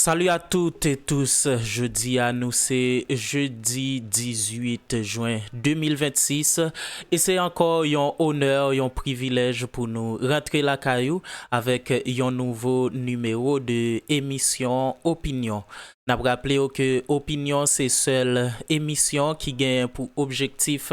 Salut à toutes et tous, jodi a nou se jeudi 18 juin 2026 e se ankò yon onè, yon privilèj pou nou rantre lakay ou avèk yon nouvo nimewo de emisyon Opinyon. N ap raple w ke Opinyon se sèl emisyon ki genyen pou objektif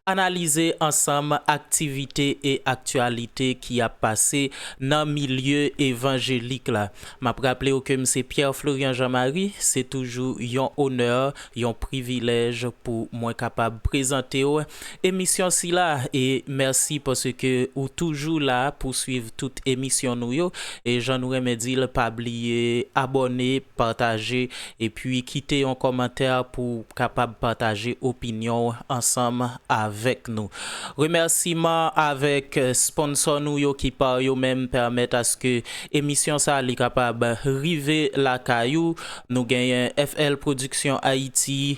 analize ansanm aktivite e aktyalite ki ap pase nan milye evanjelik la. M ap raple w ke m se Pierre Florian Jean Marie, se toujou yon onè, yon privilèj pou mwen kapab prezante w emisyon sila e mèsi paske ou toujou la pou swiv tout emisyon nou yo e jan nou renmen dil pa bliye abòne pataje epi kite yon kòmantè pouw kapab pataje opinyonw ansanm avèk nou remèsiman avèk sponsò nou yo ki pa yo menm pèmèt aske emisyon sa li kapab rive lakay ou nou genyen FL production Haïti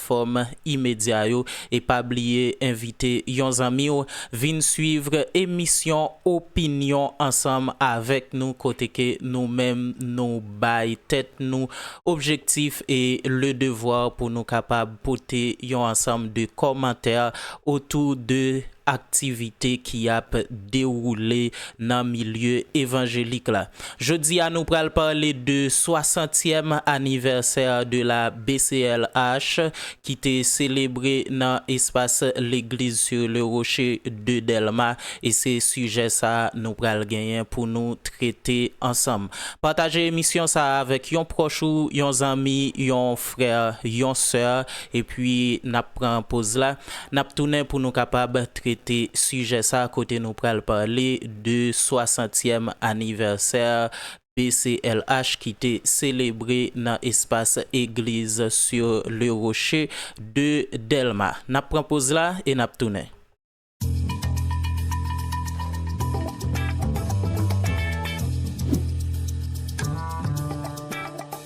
platfòm imedya yo e pa bliye envite yon zanmi w vin swiv emisyon opinyon ansanm avèk nou kote ke nou menm nou bay tèt nou objektif e le devwa pou nou kapab pote yon ansanm de kòmantè otou de aktivite ki ap dewoule nan milye evanjelik la. Jodi a nou pral pale de 60 tièm anivèsè de la BCLH ki te selebre nan espas Legliz sur le Rocher de Delma e se sijè sa nou pral genyen pou nou trete ansanm. Pataje emisyon sa avèk yon pwòch ou, yon zanmi, yon frè, yon sè epi nap pran poz la. N ap tounen pou nou kapab trete sijè sa kote nou pral pale de swasantyèm anivèsè BCLH ki te selebre nan espas Egliz sur le Rocher de Dèlma. N ap pran poz la e n ap tounen.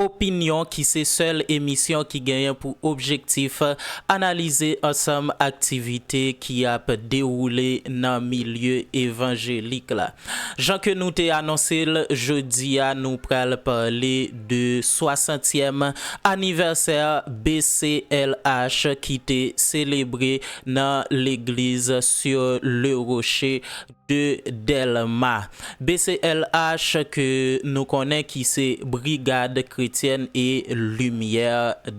Opinyon ki se sèl emisyon ki genyen pou objektif analize ansanm aktivite ki ap dewoule nan milye evanjelik la. Jan ke nou te anonse l, jodi a nou pral pale de swasantyèm anivèsè BCLH ki te selebre nan legliz Sur le Rocher, de Dèlma. BCLH ke nou konnen ki se Brigad Kretyèn e Limyè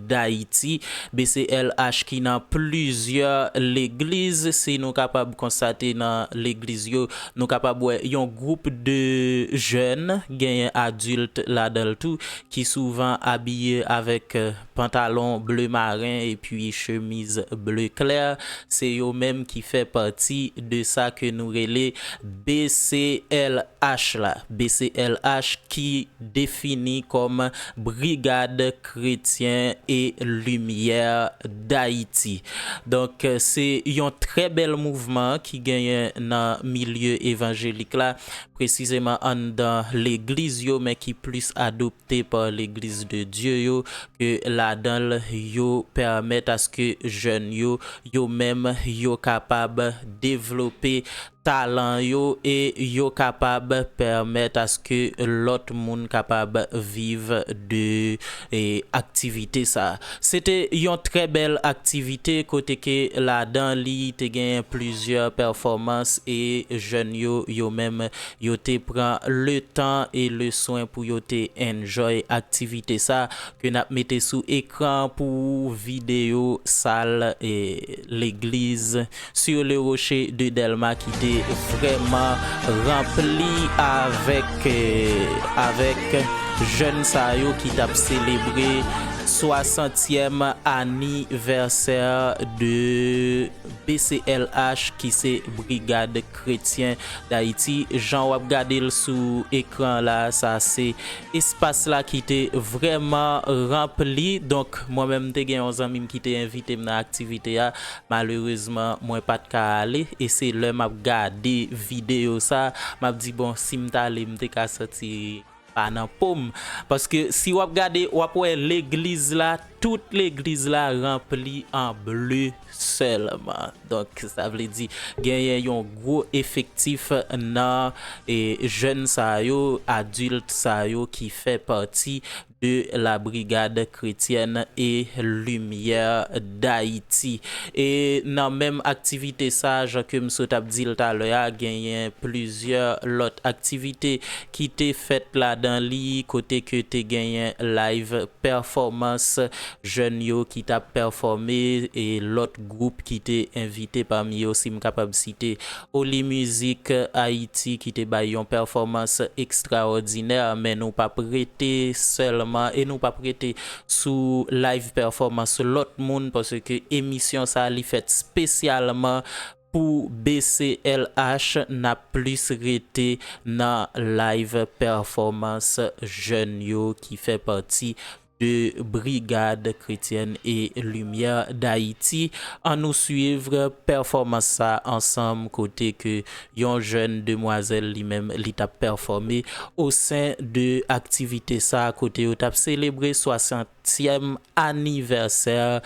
Dayiti, BCLH ki nan plizyè legliz, si nou kapab konstate nan legliz yo, nou kapab wè yon gwoup de jèn, genyen adilt ladan l tou, ki souvan abiye avèk Pantalon bleu marin epi chemiz bleu clair se yo menm ki fè pati de sa ke nou rele BCLH la. BCLH ki defini kòm Brigad Kretyen e Limyè Dayiti. Donk se yon trè bèl mouvman ki genyen nan milye evanjelik la, presizeman anndan legliz yo men ki plis adopte. te par legliz de Dye yo ke ladan l yo pèmèt aske jèn yo yo menm yo kapab devlope talan yo e yo kapab pèmèt aske lòt moun kapab viv de aktivite sa. Se te yon trè bèl aktivite kote ke ladan li te genyen plizyè pèfòmans e jèn yo yo menm Yo te pran letan e leswen pou yo te enjoy aktivite sa ke nap mete sou ekran pou ou video sal e legliz sur le rocher de Delma ki te vreman ranpli avek avek jèn sa yo ki tap selebre 60 tièm anivèsè de BCLH ki se Brigad kretyen dayiti jan wap gadel sou ekran la sa se espas la ki te vrèman ranpli donk mwen menm te gen yon zanmim ki te envitem nan aktivite a malerezman mwen pat ka ale e se lè map gade videyo sa map di bon sim tale mte ka soti pa nan pom paske si wap gade wap wè legliz la tout legliz la ranpli an ble sèlman donk sa vle di genyen yon gwo efektif nan jèn sa yo adilt sa yo ki fè pati de la brigad kretyèn e limyè dayiti e nan menm aktivite sa jan kem sot ap dil talè a genyen plizyè lòt aktivite ki te fèt ladan li kote ke te genyen live pèfòmans jèn yo ki tap pèfòme e lòt gwoup ki te envite pami yo si m kapab site Oli Mizik Ayiti ki te bay yon pèfòmans ekstraòdinè men nou pap rete sèlman e nou pap rete sou live pèfòmans lòt moun paske emisyon sa li fèt spesyalman Pou BCLH nap plis rete nan live performance jèn yo ki fè pati de Brigade Chrétienne et Lumière d'Haïti an nou suivre performance sa ansanm kote ke yon jèn demwazèl li menm li tap performe au sein de activité sa kote yo tap selebre 60 tièm anniversaire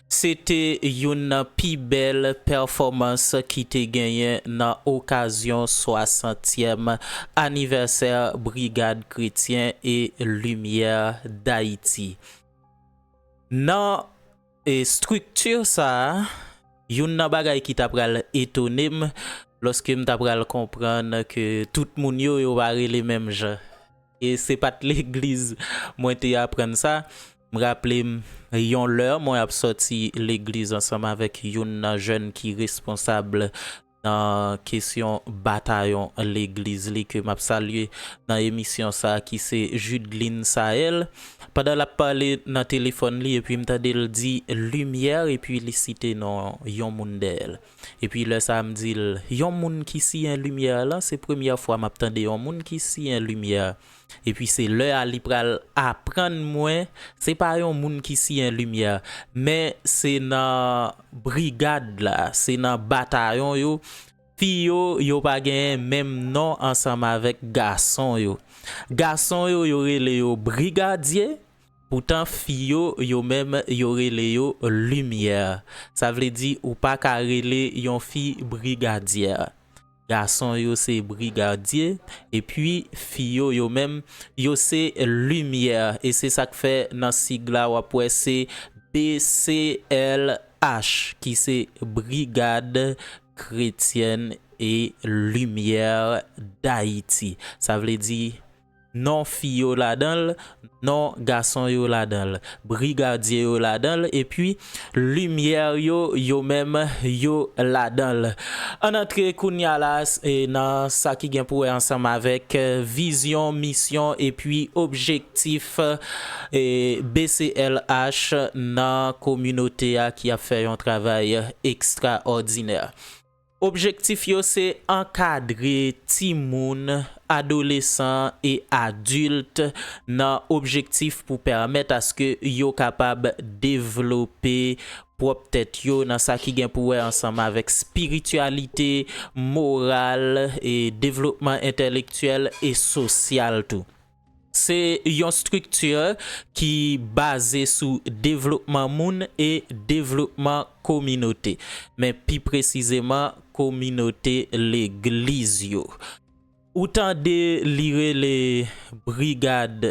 Se te youn nan pi bèl pèfòmans ki te genyen nan okazyon swasantyèm anivèsè Brigad Kretyen e Limyè Dayiti. Nan estrikti sa a, youn nan bagay ki ta pral etone m, lòske m ta pral konprann ke tout moun yo, yo pa rele menm jan. E se pa t legliz mwen te aprann sa. M raple m yon lè mwen ap soti legliz ansanm avèk youn nan jèn ki responsab nan kesyon batayon legliz li ke m ap salye nan emisyon sa ki se Judeline Saël. Pandan l ap pale nan telefòn li epi m tande l di Lumière epi li site non yon moun dèyè l. Epi lè sa a m di l, Yon moun ki siyen limyè a lan, se premyè fwa m ap tande yon moun ki siyen limyè a. Epi se lè a li pral aprann mwen se pa yon moun ki siyen limyè a, men se nan brigad la, se nan batayon yo, fi yo, yo pa genyen menm non ansanm avèk gason yo. Gason yo, yo rele yo brigadye, Poutan fi yo, yo menm, yo rele yo limyè. Sa vle di ou pa ka rele yon fi brigadyè. Gason yo se brigadye, epi fi yo, yo menm, yo se limyè. E se sa k fè nan sig la w ap wè se BCLH ki se Brigad Kretyèn e Limyè Dayiti. Sa vle di. Non fi yo ladan l, non gason yo ladan l. Brigadye yo ladan l epi limyè yo yo menm yo ladan l. Ann antre kounya la nan sa ki gen pou wè ansanm avèk vizyon, misyon epi objektif BCLH nan kominote a ki ap fè yon travay ekstraòdinè. Objektif yo se ankadre timoun, adolesan e adilt nan objektif pou pèmèt aske yo kapab devlope pwòp tèt yo nan sa ki gen pou wè ansanm avèk spirityalite, moral, devlopman entèlektyèl e sosyal tou. Se yon strikti ki baze sou devlopman moun e devlopman kominote, men pi presizeman kominote legliz yo. Ou tande li rele brigad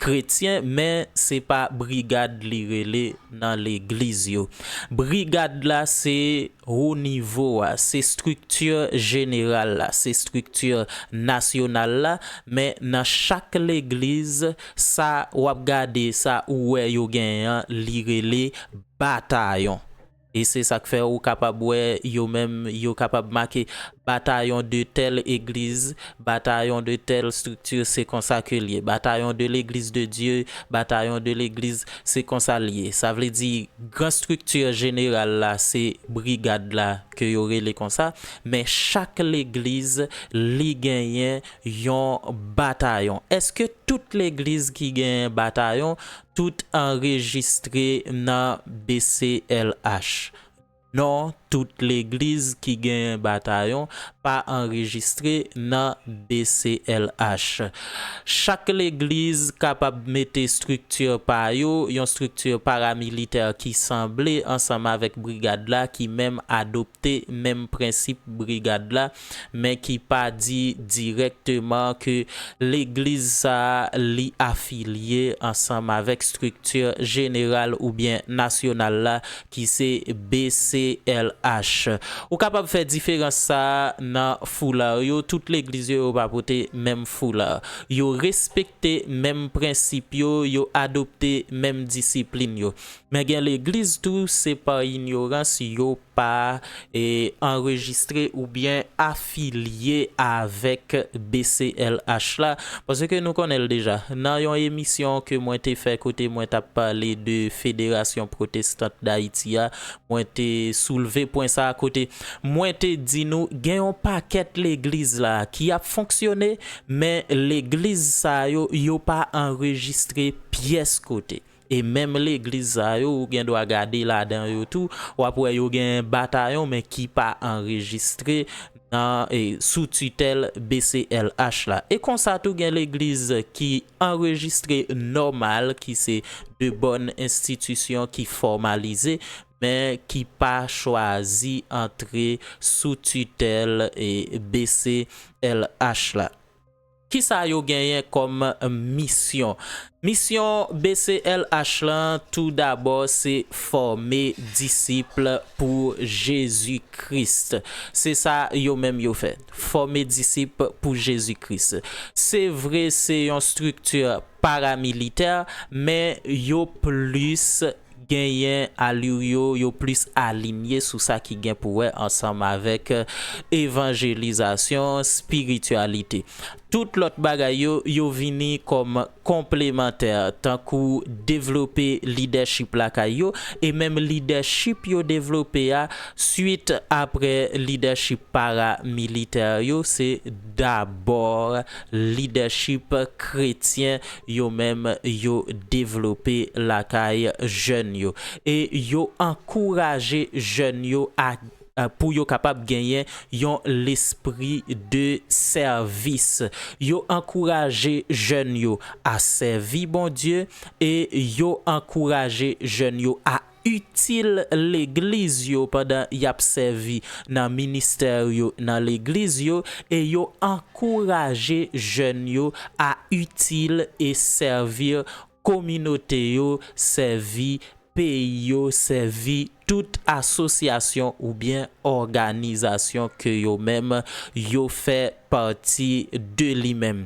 kretyen, men se pa brigad li rele nan legliz yo. Brigad la se Wo nivo a, se strikti jeneral la, se strikti nasyonal la, men nan chak legliz, sa w ap gade, sa ou wè yo genyen an, li rele batayon. E se sa k fè ou kapab wè yo menm, yo kapab make batayon de tèl egliz, Batayon de tèl strikti se konsa ke l ye. Batayon de legliz de Dye, batayon de legliz, se konsa l ye. Sa vle di, gran strikti jeneral la se brigad la ke yo rele konsa, men chak legliz li genyen yon batayon. Eske tout legliz ki genyen batayon, tout anrejistre nan BCLH? Non tout legliz ki genyen batayon pa anrejistre nan BCLH. Chak legliz kapab mete estrikti pa yo, yon estrikti paramilitè ki sanble ansanm avèk brigad la ki menm adopte menm prensip brigad la men ki pa di dirèkteman ke legliz sa a li afilye ansanm avèk strikti jeneral oubyen nasyonal la ki se BCLH. Ou kapab fè diferans sa a nan foulard yo, tout legliz yo yo pa pote menm foulard. Yo respekte menm prensip yo, yo adopte menm disiplin yo. Men gen legliz tou se pa inyorans yo pa anrejistre oubyen afilye avèk BCLH la, paske nou konnen l deja. Nan yon emisyon ke mwen te fè kote mwen t ap pale de Federasyon Pwotestant Dayiti a, mwen te soulve pwen sa a kote mwen te di nou gen yon pakèt legliz la ki ap fonksyone, men legliz sa yo, yo pa anrejistre pyès kote. E menm legliz sa yo ou gen dwa gade ladan yo tou wap wè yo gen batayon men ki pa anrejistre nan sou titèl BCLH la. E konsa tou gen legliz ki anrejistre nòmal ki se de bòn enstitisyon ki fòmalize men ki pa chwazi antre sou titèl BCLH la. Kisa yo genyen kòm misyon? Misyon BCLH lan tou dabò se fòme disip pou Jezi Kris. Se sa yo menm yo fè. Fòme disip pou Jezi Kris. Se vre se yon strikti paramilitè men yo plis Genyen alur yo, yo plis alinye sou sa ki gen pou wè ansanm avèk evanjelizasyon, spirityalite. Tout lòt bagay yo, yo vini kòm konplemantè, tankou devlope lidèchip lakay yo, e menm lidèchip yo devlope a, swit apre lidèchip paramilitè yo, se dabò lidèchip kretyen, yo menm yo devlope lakay jèn yo e yo ankouraje jèn yo a pou yo kapab genyen yon lespri de sèvis. Yo ankouraje jèn yo a sèvi Bondye e yo ankouraje jèn yo a itil legliz yo pandan y ap sèvi nan ministè yo nan legliz yo e yo ankouraje jèn yo a itil e sèvi kominote yo, sèvi peyi yo, sèvi tout asosyasyon oubyen òganizasyon ke yo menm yo fè pati de li menm.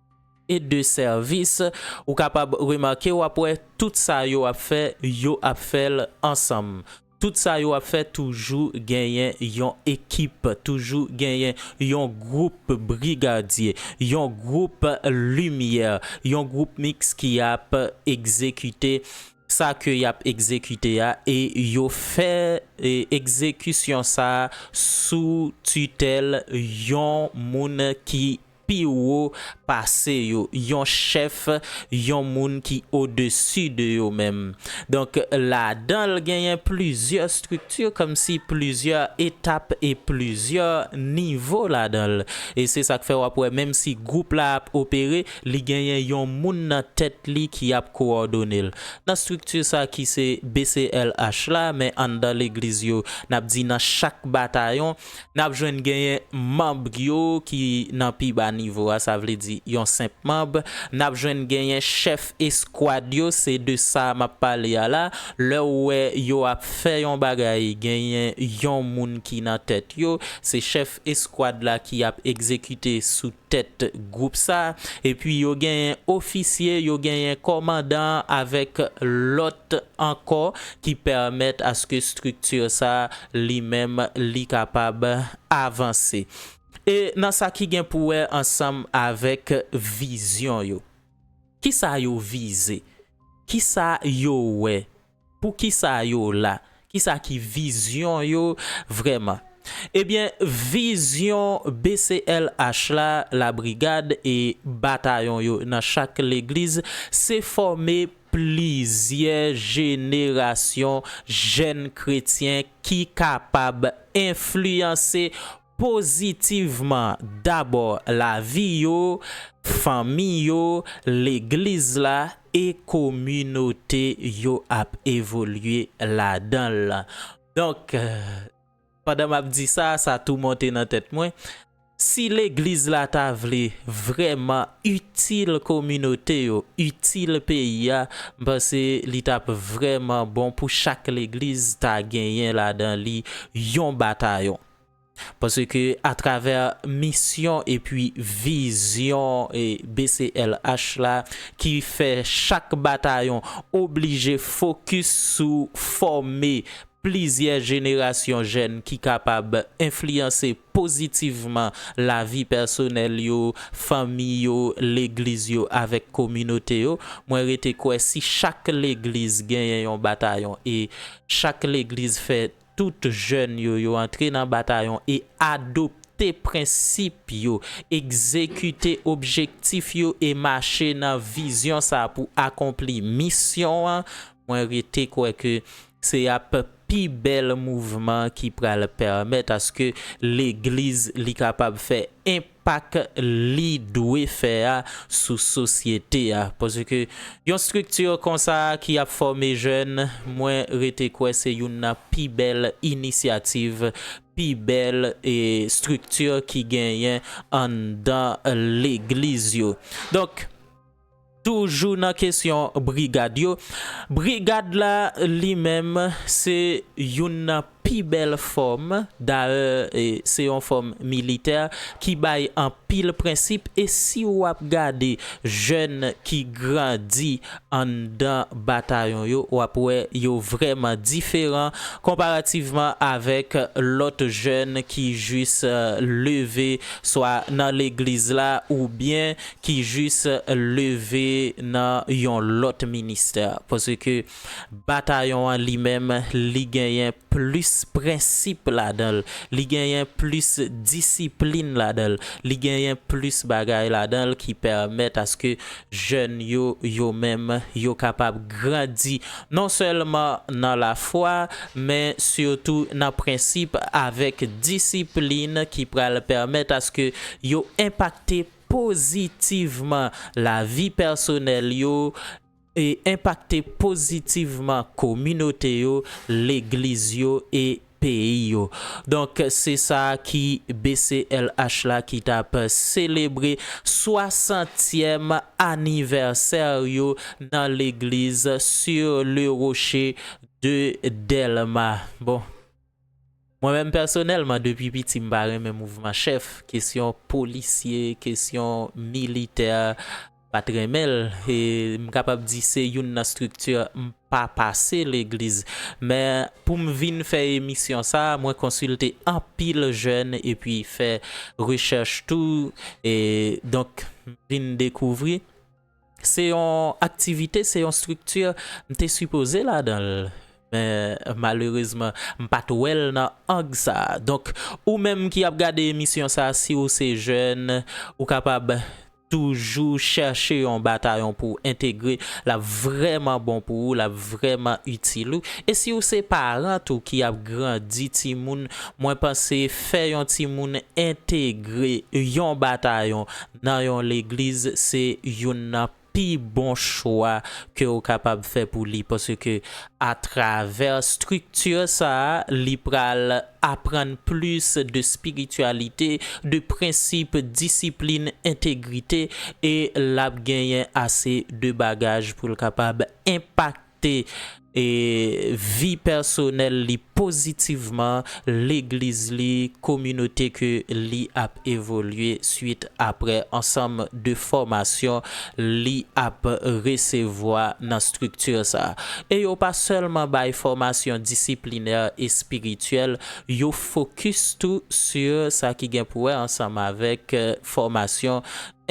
et de service ou kapab remake wap wè tout sa yo ap fè yo ap fèl ansanm tout sa yo ap fè toujou genyen yon ekip toujou genyen yon group brigadye yon group limyè yon group mix ki ap egzekite sa ke yap egzekite a e yo fè egzekisyon sa sou titèl yon moun ki pi wo pase yo, yon chèf, yon moun ki odesi de yo menm. Donk, ladan l genyen plizyè estrikti, kòmsi plizyè etap e plizyè nivo ladan l. E se sa k fè w ap wè menm si gwoup la ap opere, li genyen yon moun nan tèt li ki ap kowòdone l. Nan estrikti sa ki se BCLH la, men anndan legliz yo, n ap di nan chak batayon, n ap jwenn genyen manb yo ki nan pi ba nivo a, sa vle di yon senp manb, n ap jwenn genyen chèf eskwad yo, se de sa m ap pale a la, lè w wè yo ap fè yon bagay genyen yon moun ki nan tèt yo, se chèf eskwad la ki ap egzekite sou. tèt gwoup sa, epi yo genyen ofisye, yo genyen kòmandan avèk lòt ankò ki pèmèt aske estrikti sa li menm li kapab avanse. E nan sa ki gen pou wè ansanm avèk vizyon yo. Kisa yo vize? Kisa yo wè? Pou kisa yo la? Kisa ki vizyon yo vrèman? Ebyen vizyon BCLH la, la brigad e batayon yo nan chak legliz se fòme plizyè jenerasyon jèn kretyen ki kapab enfliyanse, pozitivman dabò lavi yo, fanmi yo, legliz la e kominote yo ap evolye ladan l. Donk, pandan m ap di sa, sa tou monte nan tèt mwen, si legliz la ta vle vrèman itil kominote yo, itil peyi a, m panse li t ap vrèman bon pou chak legliz ta genyen ladan li yon batayon. Paske atravè misyon epi vizyon BCLH la ki fè chak batayon oblije fokis sou fòme plizyè jenerasyon jèn ki kapab enfliyanse pozitivman lavi pèsonèl yo, fanmi yo, legliz yo avèk kominote yo, mwen rete kwè si chak legliz genyen yon batayon e chak legliz fè. Tout jèn yo yo antre nan batayon e adopte prensip yo, egzekite objektif yo e mache nan vizyon sa pou akonpli misyon an, mwen rete kwè ke se ap pi bèl mouvman ki pral pèmèt aske legliz li kapab fè enp. pak li dwe fè a sou sosyete a paske yon strikti konsa ki ap fòme jèn mwen rete kwè se youn nan pi bèl inisyativ pi bèl strikti ki genyen anndan legliz yo donk. Toujou nan kesyon brigad yo, brigad la li menm se youn nan pi bèl fòm, dayè se yon fòm militè ki bay anpil prensip e si ou ap gade jèn ki grandi anndan batayon yo w ap wè yo vrèman diferan konparativman avèk lòt jèn ki jis leve swa nan legliz la oubyen ki jis leve nan yon lòt ministè paske batayon an li menm li genyen plis prensip ladan l, li genyen plis disiplin ladan l, li genyen plis bagay ladan l ki pèmèt aske jèn yo yo menm yo kapab grandi non sèlman nan lafwa men sitou nan prensip avèk disiplin ki pral pèmèt aske yo enpakte pozitivman lavi pèsonèl yo e enpakte pozitivman kominote yo, legliz yo e peyi yo. Donk se sa ki BCLH la ki t ap selebre swasantyèm anivèsè yo nan legliz Sur le Rocher de Delma. Bon. Mwen menm pèsonèlman depi piti m pa renmen mouvman chèf, kesyon polisye, kesyon militè m pat renmen l e m kapab di se youn nan strikti m pa pase legliz. Men pou m vin fè emisyon sa mwen konsilte anpil jèn epi fè rechèch tou e donk m vin dekouvri. Se yon aktivite, se yon estrikti m te sipoze ladan l. Men malerezman m pa t wè l nan ang sa. Donk ou menm ki ap gade emisyon sa si ou se jèn ou kapab toujou chèche yon batayon pou w entegre l ap vrèman bon pou ou, l ap vrèman itil ou. E si ou se paran tou ki ap grandi timoun mwen panse fè yon timoun entegre yon batayon nan yon legliz se youn nan pi bon chwa ke ou kapab fè pou li paske atravè estrikti sa a li pral aprann plis de spirityalite, de prensip, disiplin, entegrite e l ap genyen ase de bagaj pou l kapab enpakte. afekte vi pèsonèl li pozitivman, legliz li, kominote ke li ap evolye swit apre ansanm de fòmasyon li ap resevwa nan strikti sa. E yo pa sèlman bay fòmasyon disiplinè espirityèl, yo fokis tou su sa ki gen pou wè ansanm avèk fòmasyon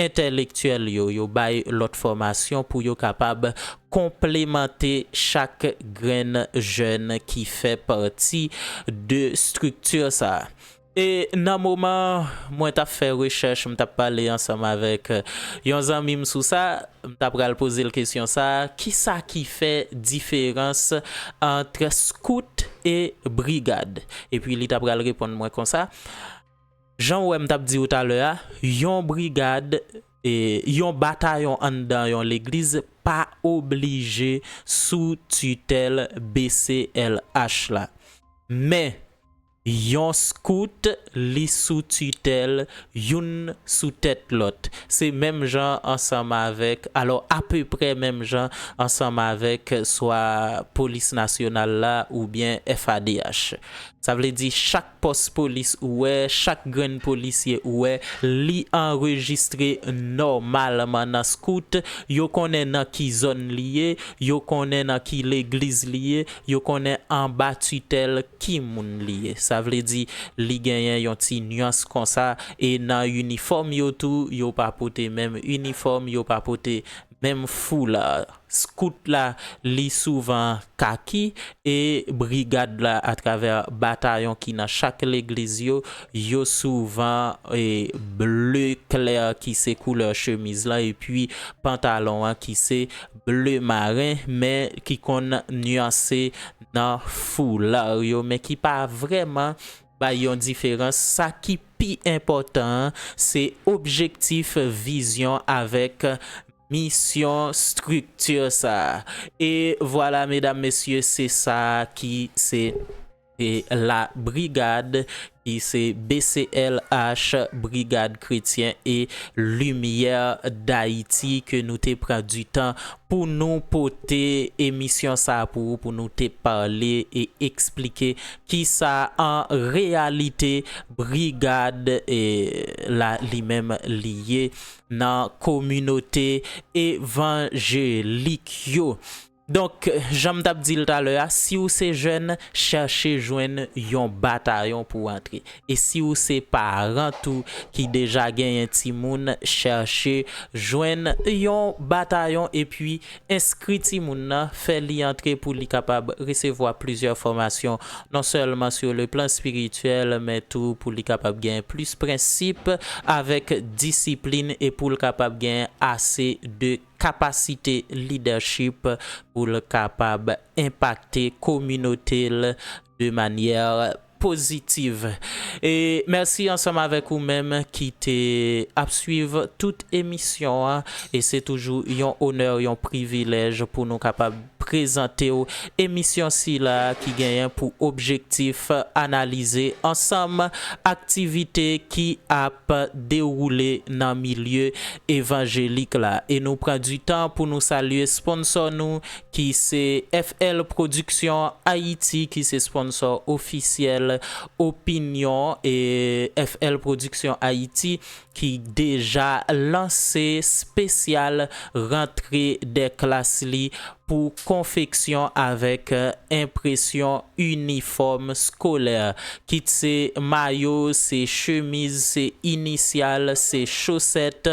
Entèlektyèl yo, yo bay lòt fòmasyon pou yo kapab konplemante chak grenn jèn ki fè pati de estrikti sa a. E nan moman mwen t ap fè rechèch, m t ap pale ansanm avèk yon zanmi m sou sa, m ta pral poze l kesyon sa a, ki sa ki fè diferans ant skout e brigad? Epi li ta pral reponn mwen konsa, Jan ou wè m t ap di ou talè a, yon brigad, yon batayon anndan yon legliz pa oblije sou titèl BCLH la. Men, yon skout li sou titèl youn sou tèt lòt. Se menm jan ansanm avèk, alò apeprè menm jan ansanm avèk swa Polis Nasyonal la oubyen FADH. Sa vle di chak. Pòs polis ou wè, chak grenn polisye ou wè, li anrejistre nòmalman nan scout, yo konnen nan ki zòn li ye, yo konnen nan ki legliz li ye, yo konnen anba titèl ki moun li ye. Sa vle di, li genyen yon ti nuance konsa e nan inifòm yo tou, yo pa pote menm inifòm, yo pa pote menm foulard. Scout la li souvan kaki e brigad la atravè batayon ki nan chak legliz yo, yo souvan ble klè ki se koulè chemiz lan epi pantalon an ki se ble maren men ki konn nyanse nan foular yo men ki pa vrèman Bay yon diferans, sa ki pi enpòtan an se objektif, vizyon avèk misyon strikti sa a. E vwala medam mesye se sa ki se la brigad ki se BCLH, Brigad Kretyen e Limyè Dayiti ke nou te pran di tan pou nou pote emisyon sa a pou ou, pou nou te pale e eksplike Ki sa an reyalite brigad la li menm li ye nan kominote evanjelik yo? Donk, jan m t ap di l talè a, si w se jèn, chèche jwenn yon batayon pou w antre. E si w se paran tou ki deja genyen timoun, chèche jwenn yon batayon epi Enskri timoun nan, fè li antre pou li kapab resevwa plizyè fòmasyon, non sèlman sou leplan espirityèl, men tou pou li kapab gen plis prensip avèk disiplin e pou l kapab gen ase de kapasite lidèchip pou l kapab enpakte kominote l de manyè positive e mèsi ansanm avèk ou menm ki te ap swiv tout emisyon an e se toujou yon onè yon privilèj pou nou kapab prezante w emisyon sila ki genyen pou objektif analize ansanm aktivite ki ap dewoule nan milye evanjelik la e nou pran di tan pou nou salye sponsò nou ki se FL Production Haiti ki se sponsor ofisyèl Opinion FL Production Haiti ki deja lanse spesyal rantre dè klas li pou konfeksyon avèk enpresyon inifòm skolè kit se mayo, se chemiz, se inisyal, se chosèt,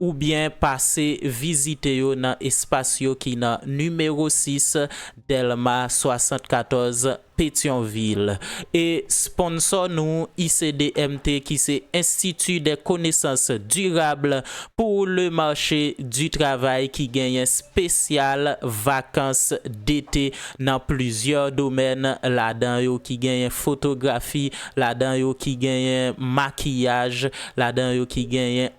oubyen pase vizite yo nan espas yo ki nan nimewo 6 Dèlma 74, Petyonvil. E sponsò nou ICDMT ki se Institut des Connaissances Durables pour le Marché du Travail ki genyen spesyal vakans dete nan plizyè domèn ladan yo ki genyen fotografi, ladan yo ki genyen makiyaj, ladan yo ki genyen.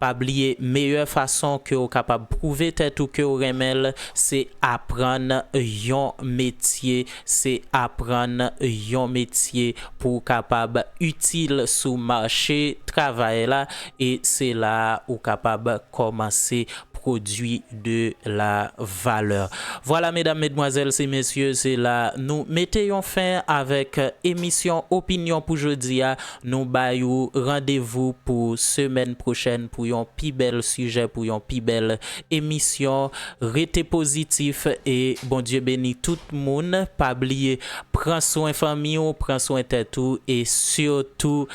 Pa bliye meyè fason ke w kapab pwouve tèt ou ke w renmen l se aprann yon metye, se aprann yon metye pou w kapab itil sou mache travay la e se la a ou kapab kòmanse pwodui de la valè. Vwala medam, medmwazèl se mesye se la nou mete yon fen avèk emisyon opinyon pou jodi a. Nou bay ou randevou pou semèn pwochèn pou yon pi bèl sijè, pou yon pi bèl emisyon. Rete pozitif e Bondye beni tout moun. Pa bliye pran swen fanmi ou, pran swen tèt ou e sitou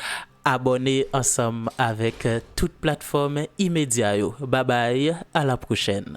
abòne ansanm avèk tout platfòm imedya yo. Babay, a la pwochèn!